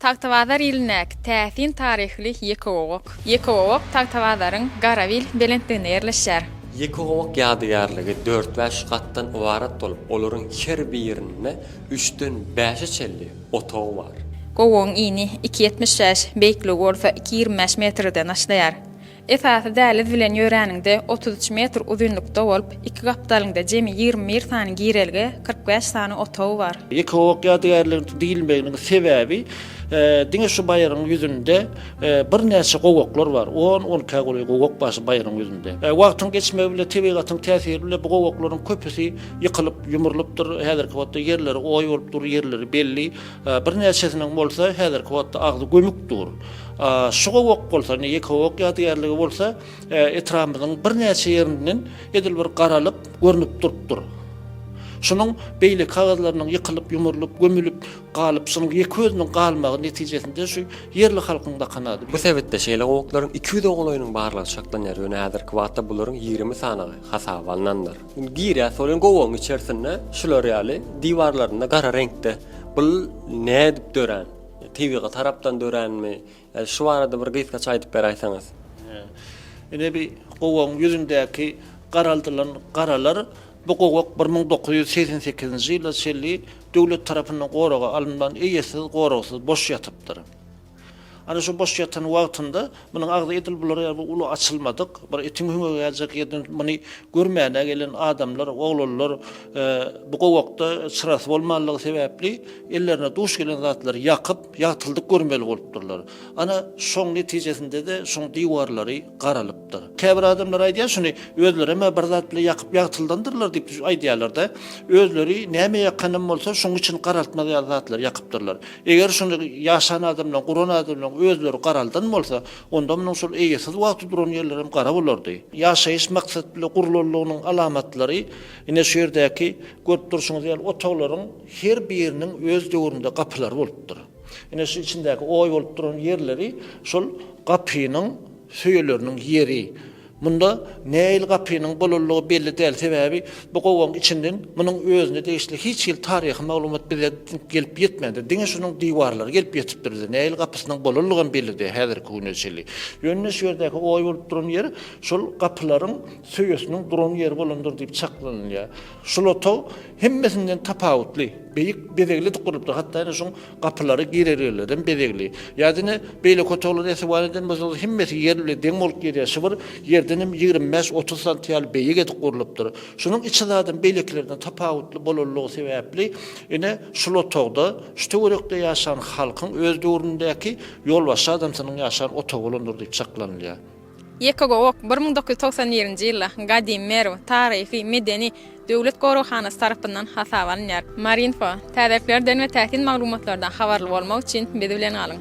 Tagtabazar ilindäki täsin taryhly Ýekegowak. Ýekegowak Tagtabazaryň Garawil belentliginde ýerleşýär. Ýekegowak ýadygärligi dört-bäş gatdan ybarat bolup, olaryň her birinde üçden bäşe çenli otag bar. Gowagyň ini iki ýetmiş bäş, beýikligi bolsa iki ýigrimi bäş metrden başlaýar. Esasy däliz bilen ýöräniňde otuz üç metr uzynlykda bolup, iki gapdalyňda jemi ýigrimi bir sany girelge, kyrk bäş sany otagy bar. Eko-ok ýadygärligiň diýilmeginiň sebäbi diňe şu baýryň ýüzünde birnäçe gowaklar bar. On, onkä golaý gowak bar şu baýryň ýüzünde. Wagtyň geçmegi bilen, tebigatyň täsiri bilen bu gowaklaryň köpüsi ýykylyp, ýumrulypdyr. Häzirki wagtda ýerleri oý bolup dur, ýerleri belli. Birnäçesiniň bolsa häzirki wagtda agzy gömük dur. Şu gowak bolsa, indi Ýekegowak ýadygärligi bolsa etrabymyzyň birnäçe ýerinden edil bir garalyp, görnüp durupdyr. Şunuň beýleki agyzlarynyň ýykylyp, ýumurlyp, gömülip galyp, şunuň ýeke özüniň galmagy netijesinde şu ýerli halkyň bakan ady. Bu sebitde şeýle gowaklaryň iki ýüz ogulaýynyň barlygy çaklanýar, ýöne häzirki wagtda bularyň ýigrimi sanagy hasaba alnandyr. Indi girýär solen gowagyň içersinde şular ýaly diwarlarynda gara reňkde bul nädip dörän? Tebigy tarapdan döränmi? Ýa şu barada bir gysgaça aýdyp beräýseňiz. Ine bi gowagyň ýüzündäki garaldylan garalar bu gowak bir müň dokuz ýüz segsen sekizinji ýyla çenli döwlet tarapyndan goraga alynman eýesiz goragsyz boş ýatypdyr. Ana şu boş ýatan wagtynda munuň agzy edil bular ýaly bir uly açylmadyk, bir itiň hüňügi geljek ýerden muny görmäne gelen adamlar, oglanlar bu gowakda çyrasy bolmanlygy sebäpli ellerine duş gelen zatlary ýakyp, ýagtyldyp görmeli bolupdyrlar. Ana şoň netijesinde-de şoň diwarlary garalypdyr. Käbir adamlar aýdýar şuny, özlerem-ä bir zat bilen ýakyp ýagtyldandyrlar diýip aýdýarlar-da, özleri näme ýakanam bolsa şoň içini garaltmaz ýaly zatlary ýakypdyrlar. Eger şuny ýaşan adam bilen guran adam bilen özleri garaldan bolsa, onda munuň şol eýesiz wagty duran ýerleri hem gara bolardy. Ýaşaýyş maksat bilen gurlanlygynyň alamatlary ine şu ýerdäki görüp durşuňyz ýaly otaglaryň her biriniň öz döwründe gapylary bolupdyr. Ine şu içindäki oý bolup duran ýerleri şol gapynyň söýeleriniň ýeri. Munda nähili gapynyň boluldygy belli däl, sebäbi bu gowagyň içinden munuň özüne degişli hiç hili taryhy maglumat bize gelip ýetmändir. Diňe şunuň diwarlary gelip ýetipdir bize. Nähili gapysynyň bolundygam belli däl häzirki güne çenli. Ýöne şu ýerdäki oý bolup duran ýer şol gapylaryň söýesiniň duran ýeri bolandyr diýip çaklanylýar. Şul otag hemmesinden tapawutly, beýik bezegli edip gurlupdyr. Hatda ine şuň Gapylary girelgelerden bezegli. Ýa diňe beýleki otaglary essiwan eden bolsaňyz hemmesi ýer bile deň bolup girýär şybir ýerdenem ýigrimi bäş otuz santy ýaly beýik edip gurlupdyr. Şunuň içi zadam beýlekilerden tapawutly bolanlygy sebäpli ine şul otagda şu töwerekde ýaşan halkyň öz döwründäki ýolbaşçy adamsynyň ýaşan otagy bolandyr diýip çaklanylýar. Ýekagowak bir müň dokuz ýüz togsan birinji ýylda Gadymy Merw taryhy, medeni, döwlet goraghanasy tarapyndan hasaba alynýar. Marinfo, Täzeliklerden we täsin maglumatlardan habarly bolmak üçin biz bilen galyň!